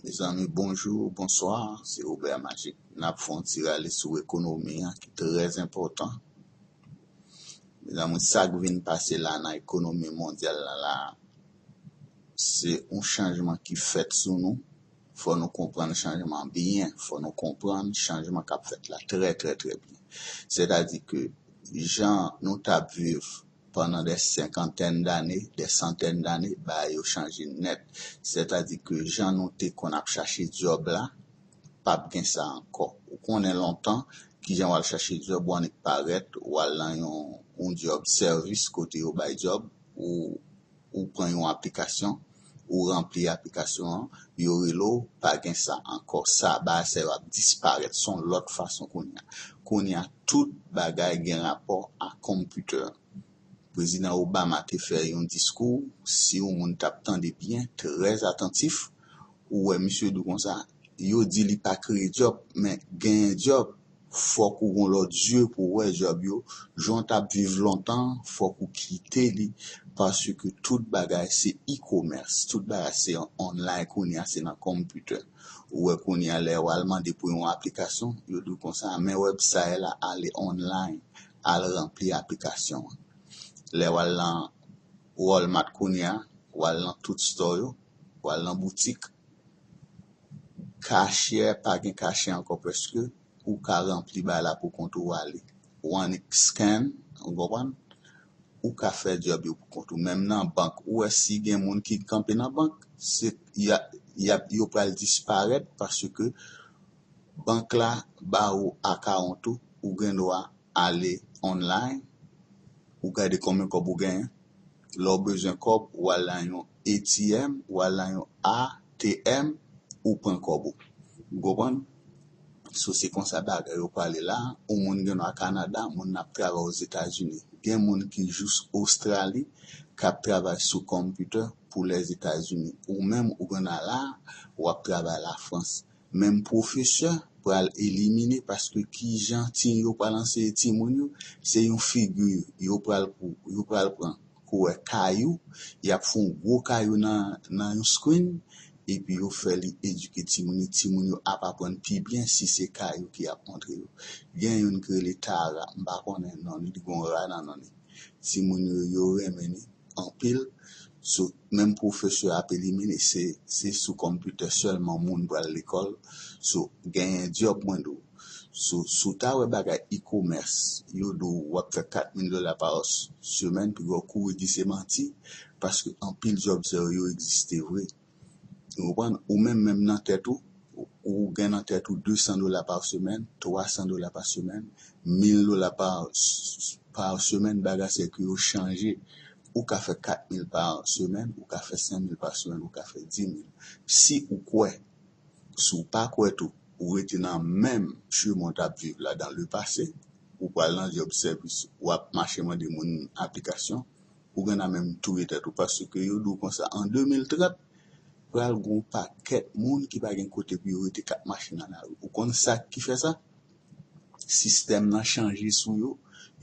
Mezanmi bonjou, bonswa, se Robert Magic. N ap fè yon ti rale sou ekonomi an ki trè enpòtan. Mezanmi, sa k vin pase la nan ekonomi mondyal la la, se yon chanjman ki fèt sou nou. Fò nou konprann chanjman an byen, fò nou konprann chanjman k ap fèt la trè trè trè byen. Sètadi ke jan nou t ap viv pandan dè senkantèn dane, dè santèn dane, bagay yo chanje nèt. Sètadi ke jan nou te konn ap chache dyòb la, p ap gen sa ankò. Ou konnen lontan, ki jan w al chache dyòb, ou annik parèt, ou al nan yon dyòb sèvis, kote yo bay dyòb, ou. ou pran yon aplikasyon ou ranpli aplikasyon an yo rele w pa gen sa ankò sa bagay sa yo ap disparèt son lòt fason kounya kounya tout bagay gen rapò a konpitè prezidan Obama te fè yon diskou si w moun tap tande byen trè atantif ou wè misye di w konsa yo di li pa kreye dyòb men genyen dyòb. Fòk ou gon lòt zye pou w wè djòb yo, jan w tap viv lontan fòk ou kite li paske tout bagay se e-commerce, tout bagay se online kounye a, se nan computer. Ou wè kounye a lè wal mande pou yon aplikasyon, yo di w konsa men website la ale online al ranpli aplikasyon an. Lè wal nan Walmart kounye a, wal nan tout store yo, wal nan boutik, Kachè a pa gen kachè ankò prèske ou ka ranpli bagay la pou kont ou ale one scan ou konprann ou ka fè djòb yo pou kont ou menm nan bank ou wè si gen moun ki kanpe nan bank se yap yo pral disparèt paske bank la ba ou akawont ou ou gen dwa ale online ou gade konbyen kòb ou genyen. Lè w bezwen kòb, ou al lan yon ATM, ou al lan yon ATM, ou pran kòb ou. Ou konprann? So se konsa bagay yo pale la. Yon moun gen dwa Kanada, moun nan ap travay Ozetazini. Gen moun ki jous Ostrali k ap travay sou computer pou Lèzetazini. Ou menm ou gen dwa la, ou ap travay Lafrans. Menm pwofesè pral elimine paske kijan tine yo pral anseye timoun yo se yon figi yo pral pou yo pral pran kouwè kayou yap fè yon gwo kayou nan nan yon screen epi yo fè li edike timoun yo timoun yo ap aprann pi byen si se kayou ki ap montre yo gen youn ki rele Tara m pa konnen non li li gon ra nan non li timoun yo yo renmen li. anpil sou menm pwofesè ap elimine se se sou konpitè sèlman moun pral lekòl sou genyen dyòb mwen di w sou sou ta wè bagay ikomès yo di w wap fè 4 mil dola pa semèn pi wè w kouri di se manti paske anpil dyòb sa yo yo egziste vre. Ou konprann? Ou menm menm nan tèt ou, ou gen nan tèt ou 200 dola pa semèn, 300 dola pa semèn, 1000 dola pa pa semèn, bagay se ke yo chanje. Ou ka fè 4000 pa semèn, ou ka fè 5000 pa semèn, ou ka fè 10000. Si ou kwè, si ou pa kwè tou, ou rete nan menm chemen w t ap viv la dan lepase, ou pral nan djòb sèvis, w ap mache mande moun aplikasyon. Ouganda menm touye tèt ou paske yo di w konsa an 2030 pral gen yon pakèt moun ki pa gen kote pou yo rete kap mache nan lari ou konn sak ki fè sa sistèm nan chanje sou yo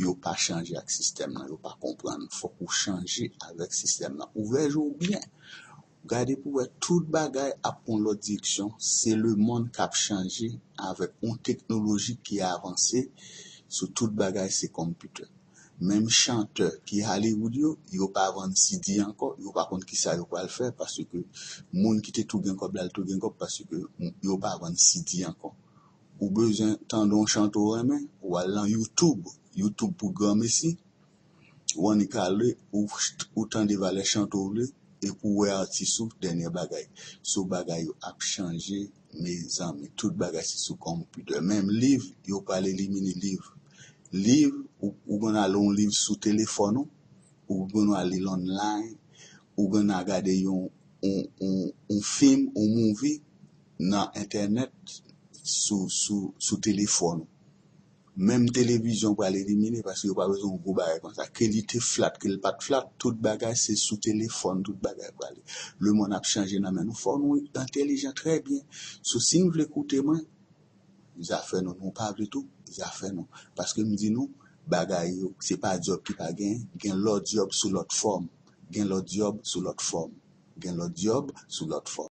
yo pa chanje ak sistèm nan yo pa konprann fòk ou chanje avèk sistèm nan ouvè je w byen. Gade pou wè tout bagay ap pran yon lòt direksyon, se lemonn k ap chanje avèk yon teknoloji ki avanse sou tout bagay se konpitè. Menm chantè ki Hollywood yo, yo pa vann CD ankò, yo pa konn kisa yo pral fè paske moun ki te tou gen kòb la l tou gen kòb paske yo pa vann CD ankò. Ou bezwen tande yon chante ou renmen, ou al lan youtube, youtube pou granmesi. Wanikale ou tande valè chante w le e pou wè atis ou dènyè bagay so bagay yo ap chanje mezanmi tout bagay se sou konpitè menm liv yo pral elimine liv liv ou gen a lon liv sou telefòn ou ou gen dwa li l online ou gen a gade yon yon fim yon movie nan entènèt sou sou telefòn ou. Menm televizyon pral elimine paske yo pa bezwen yon gwo bagay konsa ke li te flat ke li pat flat tout bagay se sou telefòn tout bagay prale le mond ap chanje nan men nou fò nou entelijan trè byen sou si nou vle koute mwen zafè nou nou pa vle tou zafè nou paske m di nou bagay yo se pa dyòb ki pa gen gen lòt dyòb sou lòt fòm gen lòt dyòb sou lòt fòm gen lòt dyòb sou lòt fòm.